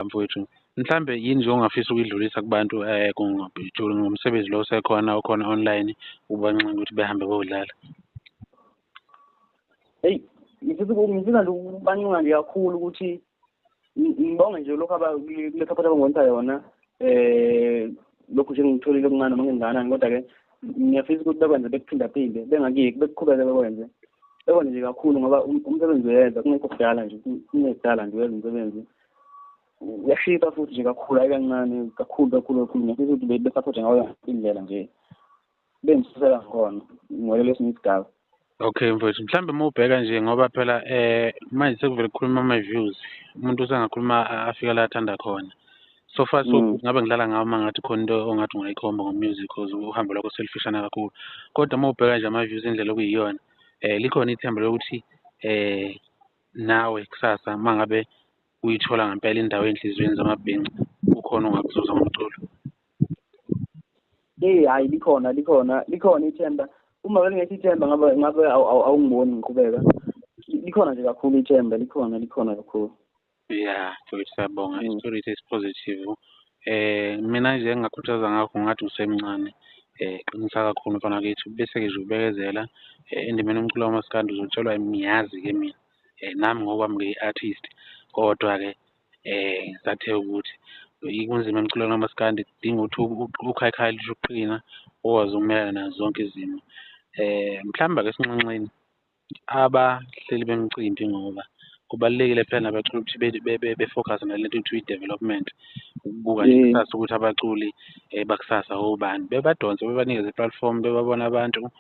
mfowethu mhlambe yini nje ongafisa ukuyidlulisa kubantu um ngomsebenzi lo osekhona okhona online ubanxenga ukuthi behambe bowudlala eyi ngifisa ngifisa nje ukubanxenga nje kakhulu ukuthi ngibonge nje lokhu kule support abangonisa yona um lokhu nje ngitholile okuncane noma ngenganani kodwa-ke ngiyafisa ukuthi bekwenze bekuphindaphinde bengakiki bekuqhubeke bekwenze bekwenze nje kakhulu ngoba um-, umsebenzi uyenza kungekho kudala nje kungekudala nje uyenza umsebenzi uyashisa futhi nje kakhulu hayi kancane kakhulu kakhulu kakhulu ngiyafisa ukuthi besaphothe ngayo indlela nje bengisisela ngona ngolele esinye isigaba okay mfowethu mhlawumbe uma ubheka nje ngoba phela eh manje sekuvele kukhuluma ama-views umuntu usengakhuluma afika la athanda khona so far so mm. ngabe ngidlala ngawo uma ngathi khona into ongathi ungayikhomba ngo-music cause uhambo lwakho selufishana kakhulu kodwa uma ubheka nje ama-views indlela okuyiyona um likhona ithemba lokuthi um nawe kusasa uma ngabe uyithola ngempela indawo enhliziyweni zamabhinca kukhona ongakuzuza ngomculo eyi hhayi likhona likhona likhona ithemba uma belingekho ithemba ngabe ngabe awungiboni ngiqhubeka likhona nje kakhulu ithemba likhona likhona kakhulu ya mfowethu siyabonga mm. isitori esipositive Eh mina nje engingakhuthaza ngakho ngathi usemncane eh qinisa kakhulu mfana kwethu bese-ke nje ubekezela eh, endimeni umculo kamaskandi uzotshelwa ngiyazi-ke mina eh nami ngokwami ngiyi-artist kodwa-ke eh sathe ukuthi kunzima emculweni kamaskandi kudinga ukuthi ukhayikhayi lisho ukuqina ukwazi ukumelana nazo zonke izimo eh mhlawumbe-ke esinxenxeni abahleli bemcimbi ngoba kubalulekile phela nabaculi ukuthi be- be- be- befocus nale nto kuthiwa i-development ukubuka nje Mm. kusasa ukuthi abaculi um bakusasa obani bebadonse bebanikeze i-platform bebabona abantu um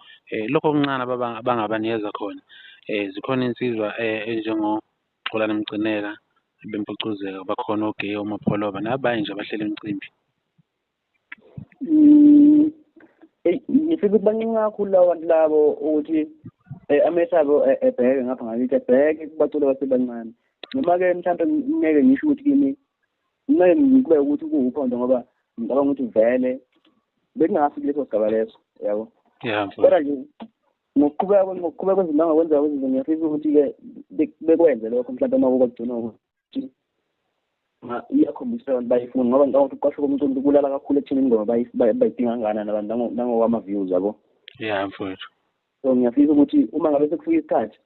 lokho okuncane ababa- abangabanikeza khona um zikhona insizwa um enjengoxolani mcineka bempucuzeka bakhona ogeyo omapholoba nabanye nje abahleli imicimbi Mm, ngifika ukuthi bancunce kakhulu lawo bantu labo ukuthi eh, amehlo abo eh, ebheke ngapha ngakithi ebheke kubaculi abasebancane noma-ke mhlawumpe ngeke ngisho ukuthi kimi kumele ngikube ukuthi kuwuphondo ngoba ngicabanga ukuthi vele bekungafiki leso sigaba leso yabo kodwa nje ngokuqhubeka ngokuqhubeka kwezinto angakwenzeka kwezinto ngiyafisa ukuthi-ke bekwenze lokho mhlawumpe uma kuba kugcinwa iyakhombisa abantu bayifuna ngoba ngicabanga ukuthi ukuqashwa komcimbi kulala kakhulu ekuthenini ngoba bayidinga kangakanani abantu nangokwama-views yabo ya mfowethu so ngiyafisa ukuthi uma ngabe sekufika isikhathi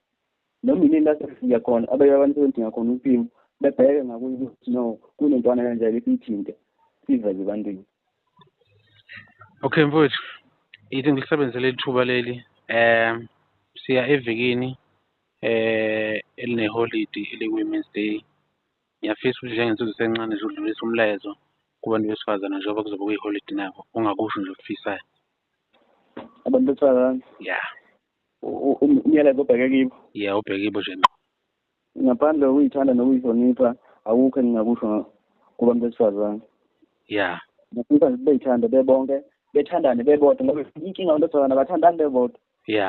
noma yini lasefika khona abanye abantu sebedinga khona umpimo bebheke ngakuye ukuthi no kunentwana kanjani esiyithinte siveze ebantwini okay mfowethu ithi ngilisebenzisele ithuba leli um siya evikini eh elineholidi eliyi-women's day ngiyafisa ukuthi njengensizwe sencane nje udlulisa umlayezo kubantu besifazane njengoba kuzobe kuyiholidi nabo ungakusho nje okufisayo abantu besifazane ya umyalezo obheke kibo ya ubheke kibo nje ngqo ngaphandle kokuyithanda nokuyihlonipha awukho engingakusho kubantu besifazane ya ngifisa nje beyithande bebonke bethandane bebodwa ngoba inkinga abantu besifazane abathandani bebodwa ya